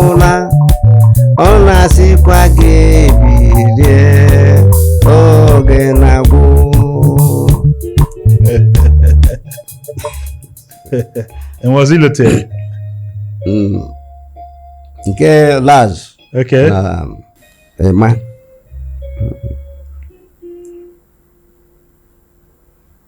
ụla ọ na-asịkwa gị bilie oge na-agwụ And was he looted? Mm. nke Laz Okay. na Ema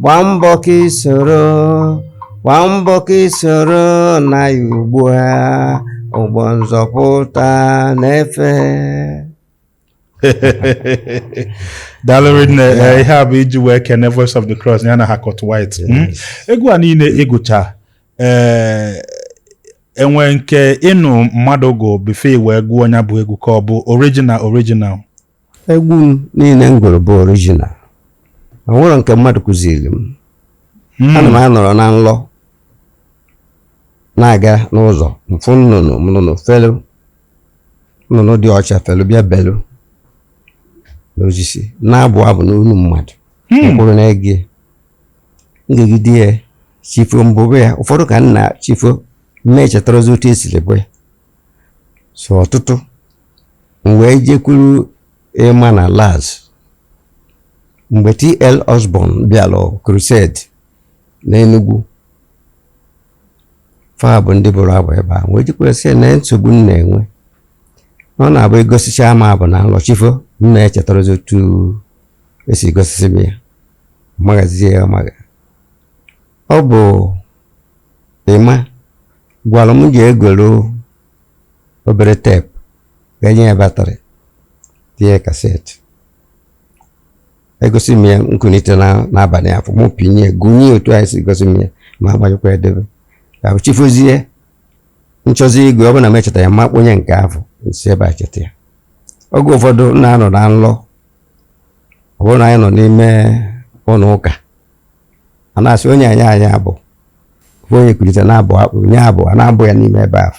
gbaa mbọ ka i soro gbaa mbọ ka i soro na ya ugbu a ụgbọ nzọpụta na-efe daalụ rinne eh, ihe a bụ iji wee kene Voice of the Cross ya na Harcourt Whyte hmm? egwu a niile ị gụcha ee eh, e nwe nke ị nụ mmadụ gụ before i wee gụọ onye bụ egwu ka ọ bụ original original Egwu m niile m gụrụ bụ original o nwerọ nke mmadụ kụziri m hmm. ana m anọrọ na nlọ na-aga n'ụzọ m fụ nnụnụ nnụnụ felu nnụnụ dị ọcha felu bịa belu n'osisi na-abụ abụ n'olu mmadụ hmm. m kwụrụ na-ege m gegide ya chi fo m bụbe ya ụfọdụ ka na chi fo m echetarozi otu e siri bụ ya so ọtụtụ m wee jekwuru Ema na Laz mgbe TL Osborn bịara crusade n'Enugu fa bụ ndị bụrụ abụ ebe a m wee jekwuru sị ya na nsogbu m na-enwe na ọ na-abụ egosicha m abụ na nlọ chi fo m na-echetarazi otu e si gosisi m ya maghazie ya magha ọ bụ Ema gwara m je egoro obere teepu ga-enye ya batrị tinye kaseti e gosi m ya m kunite n'abalị afụ mụ pịnye gụnye otu e si gosi m ya ma agbanyekwa edebe ka chi fozie m chọzi ịgụ ọ bụ na m echeta ya m akpọnye nke afụ m si ebe a cheta ya oge ụfọdụ na-anọ na nlọ ọ bụrụ na anyị nọ n'ime ụlọ ụka a na-asị onye nye anyị abụ onye kulite na-abụ akpụ nye abụ a na-abụ ya n'ime ebe ahụ